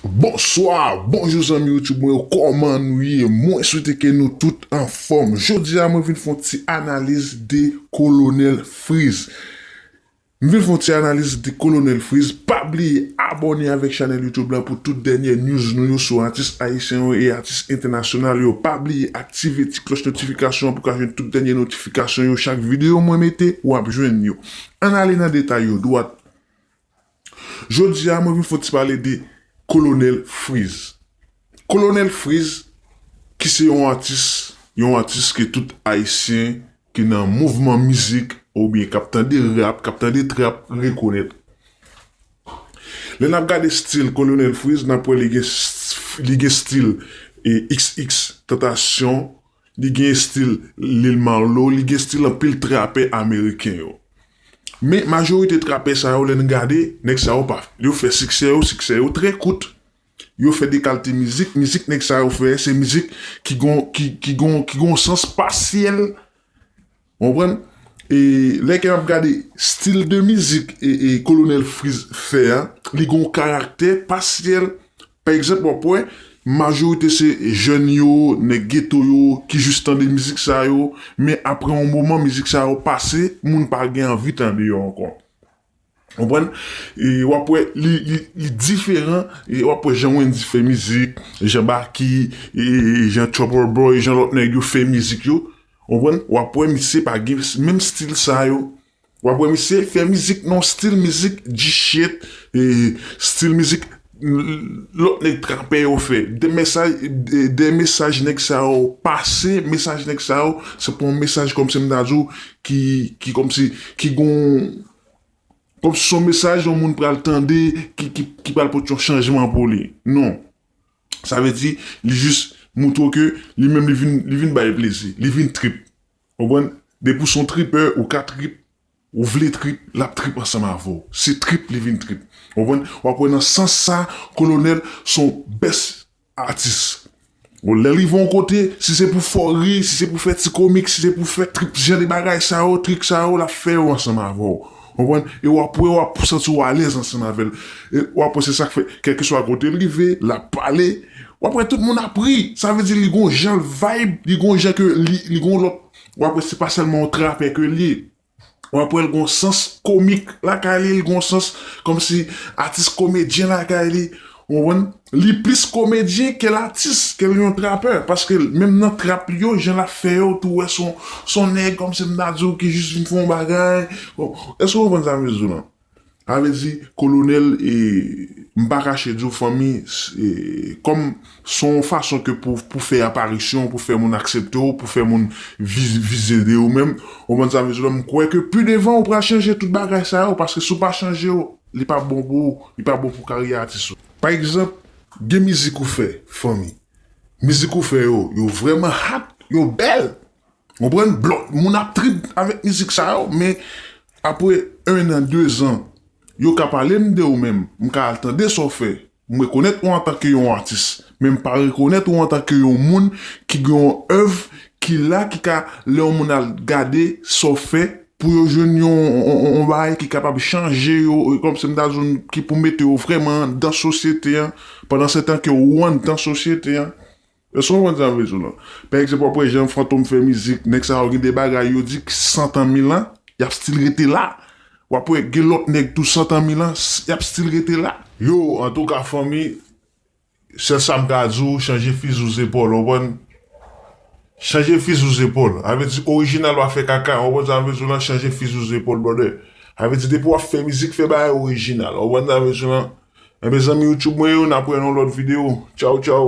Bonswa, bonjou zanmi YouTube mwen yo, kòman nou ye? Mwen swete ke nou tout anfòm. Jodi a mwen vin fè yon ti analiz de Kolonèl Friz. M vin fè yon ti analiz de Kolonèl Friz. Pa bliye abòne avèk chanèl YouTube la pou tout dènyè news nou yo sou atis ayisyen yo e atis entènasyonal yo. Pa bliye aktive ti klòch notifikasyon an pou w ka jwenn tout dènyè notifikasyon yo. Chak videyo mwen mete, w ap jwenn yo. Ann ale nan detay yo dwat. Jodi a mwen vin fò ti pale de Kolonèl Friz. Kolonèl Friz ki se yon atis, yon atis ke tout Ayisyen ki nan mouvman mizik oubyen k ap tande rap, k ap tande trap rekonèt. Lè n ap gade stil Kolonèl Friz n ap wè li gen stil xx, tantasyon, Li gen estil Lil Marlo, li gen estil anpil trapè ameriken yo. Men majorite trapè sa yo lè n gade, nèg sa yo pa, yo fè siksè yo, siksè yo trè kout. Yo fè de kalte mizik, mizik nèg sa yo fè se mizik ki gon ki gon ki gon sans pasyèl. Ou konprann? E lè ke map gade stil de mizik Kolonèl Fritz fè a, li gon karaktè pasyèl. Pa egzanp wap wè majorite se jèn yo, nèg geto yo ki jis tande mizik sa yo, men apre yon moman mizik sa yo pase, moun pa gen anvi tande yo ankò. Konprann? E wap wè li li diferan, e wap wè jan Wendyy fè mizik, jan Baky, e jan Trouble Boy, jan lòt nèg yo fè mizik yo, konprann, wap wè misye pa gen menm stil sa yo. Wap wè misye fè mizik nan yon stil mizik G-shit, e stil mizik. Lot neg trape yo fe. De mesaj neg sa yo pase, mesaj neg sa yo se pa yon mesaj komsi m ta di w ki komsi ki gon komsi son mesaj yon moun pral tande ki pral pot yon chanjman pou li. Non. Sa vle di li jis moutre w ke li menm li vin bay plezi, li vin trip. Ou konprann? Depi w son tripè ou ka trip Ou vle trip, l ap trip ansanm avè w. Se trip li vin trip. Ou konprann? W ap wè nan sans sa a, Kolonèl se yon best atis. Bon, lè li rive yon kote, si se pou fè w ri, si se pou fè ti komik, si se pou fè trip jan de bagay sa yo, trik sa yo, l ap fè yo ansanm avè w. Ou konprann? E w ap wè w ap santi w alèz ansanm avè l. E w ap wè se sa k fè, kèlkeswa kote l rive, l ap pale, w ap wè tout moun ap ri. Sa vle di li gen yon jan l vibe, li gen yon jan ke li gen yon lòt. w ap wè se pa sèlman yon trapè ke l ye, w ap wè l gen yon sans komik lakay li, li gen yon sans kòmsi atis komedyen lakay li, ou konprann, li plis komedyen ke l atis, ke l yon trapè, paske menm nan trap li yo, jan l ap fè yo, ou tou wè s on nèg kòmsi m ta di w ki jis vin fè yon bagay, bon, èske w konprann sa m jis di w lan? Sa vle di kolonel e m pa kache di w fanmi e kòm s on fason ke pou pou fè aparisyon pou fè moun aksepte w pou fè moun vize de ou menm ou konprann sa m vle di w la m kwè ke pi devan ou pral chanje tout bagay sa yo paske si w pa chanje yo li pa bon pou ou li pa bon pou karyè atis ou. Pa egzanp gen mizik ou fè fanmi mizik ou fè yo yo vrèman hard yo bèl Konprann? Blòd moun ap trip avèk mizik sa yo men apre 1 an 2 zan yo ka pale m de ou men m ka al tande sa w fè m rekonèt ou antanke yon atis men m pa rekonèt ou antanke yon moun ki gen yon èv ki la ki ka lè yon moun al gade sa w fè pou yo jwenn yon bagay ki kapab chanje yo kòm si m ta di w ki pou mete yo vrèman anndan sosyete an pandansetan ke ou anndan sosyete an. Èske w konprann sa m vle di w la? Pa egzanp, w ap wè jan Fantom fè mizik, nèg sa yo gen de bagay yo di ki santan mil an, y ap stil rete la. W ap wè gen lòt nèg tou santan mil an, y ap stil rete la. Yo, antouka fanmi, sèl sa m ka di w, chanje fizi w zepòl, w konprann? Chanje fizi w zepòl. Sa vle di orijinal pa fè kaka, w konprann sa m vle di w la? Chanje fizi w zepòl brother. Sa vle di depi w ap fè mizik, fè bagay orijinal. W konprann sa m vle di w la? Enben zanmi YouTube mwen yo nap wè nan yon lòt video tchaw tchaw.